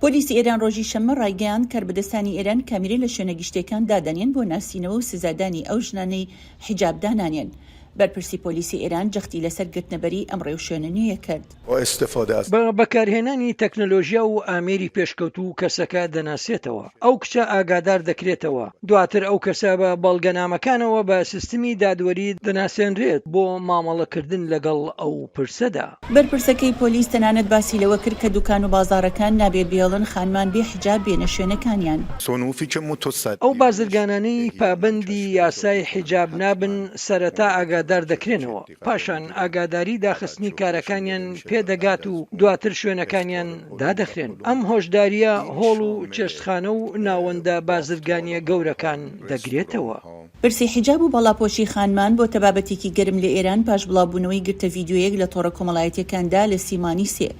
پۆلیسی ئێران ڕۆژی شەممە ڕایگەیاند، کاربەدەستانی ئێران کامیرە لە شوێنە گشتییەکان دادەنێن بۆ ناسینەوە و سزادانی ئەو ژنانەی حیجاب دانانێن. بەرپرسی پۆلیسی ئێران جەختی لەسەر گرتنەبەری ئەم ڕێوشوێنە نوێیە کرد. بە بەکارهێنانی تەکنەلۆژیا و ئامێری پێشکەوتوو کەسەکە دەناسێتەوە. ئەو کچە ئاگادار دەکرێتەوە، دواتر ئەو کەسە بە بەڵگەنامەکانەوە بە سیستمی دادوەری دەناسێنرێت بۆ مامەڵەکردن لەگەڵ ئەو پرسەدا. بەرپرسەکەی پۆلیس تەنانەت باسی لەوە کرد کە دوکان و بازاڕەکان نابێ بێڵن خانمان بێ حیجاب بێنە شوێنەکانیان. ئەو بازرگانانەی پابەندی یاسای حیجاب نابن سەرەتا ئاگادار دەکرێنەوە. پاشان ئاگاداری داخستنی کارەکانیان پێ دەگات و دواتر شوێنەکانیان دادەخرێن. ئەم هۆشدارییە هۆڵ و چێشتخانە و ناوەندە بازرگانییە گەورەکان دەگرێتەوە. پرسی حیجاب و باڵاپۆشی خانمان بۆتە بابەتێکی گەرم لە ئێران پاش بڵاوبوونەوەی گرتە ڤیدیۆیەک لە تۆڕە کۆمەڵایەتییەکاندا لە سیمانی سێ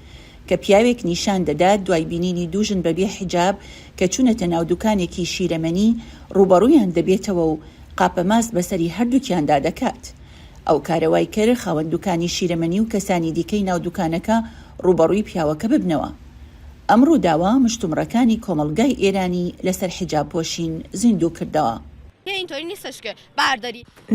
کە پیاوێک نیشان دەدات دوای بینینی دوو ژن بەبێ حیجاب کە چوونەتە ناو دوکانێکی شیرەمەنی ڕووبەڕوویان دەبێتەوە و قاپە ماست بەسەری هەردووکیاندا دەکات. ئەو کارە وای کرد خاوەن دوکانی شیرەمەنی و کەسانی دیکەی ناو دوکانەکە ڕووبەڕووی پیاوەکە ببنەوە. ئەم ڕووداوە مشتومڕەکانی کۆمەڵگای ئێرانی لەسەر حیجاب پۆشین زیندوو کردەوە.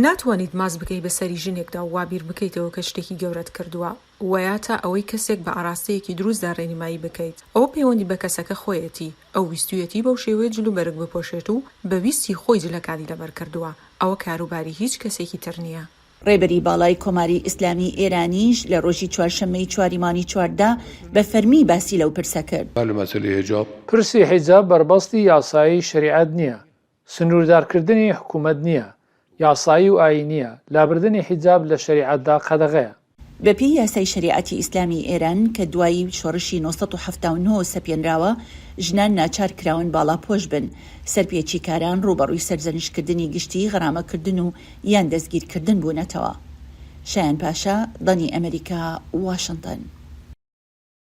ناتوانیت ماست بکەیت بە سەری ژنێکدا و وا بیر بکەیتەوە کە شتێکی گەورەت کردووە. وایاتا ئەوەی کەسێک بە ئاراستەیەکی دروستدا ڕێنیمایی بکەیت ئەوە پەیوەندی بە کەسەکە خۆیەتی، ئەو ویستویەتی بەو شێوەیە جل و بەرگ بپۆشێت و بە ویستی خۆی جلەکانی لەبەر کردووە، ئەوە کاروباری هیچ کەسێکی تر نییە. ڕێبەری باڵای کۆماری ئیسلامیی ئێرانیش لە ڕۆژی چوارشەممەی چواری مانگی چواردا بە فەرمی باسی لەو پرسە کرد. پرسی حیجاب بەربەستی یاسایی شەریعەت نییە، سنووردارکردنی حکوومەت نییە، یاسایی و ئایینییە، لابردنی حیجاب لە شەریعەتدا قەدەغەیە. بەپێی یاسای شەریعەتی ئیسلامیی ئێران کە دوای شۆڕشی نۆ سەد و حەفتا و نۆ سەپێنراوە، ژنان ناچار کراون باڵاپۆش بن، سەرپێچیکاران ڕووبەڕووی سەرزەنشتکردنی گشتیی غەرامەکردن و یان دەستگیرکردن بوونەتەوە. شایان پاشا، دانی ئەمەریکا، واشنتن.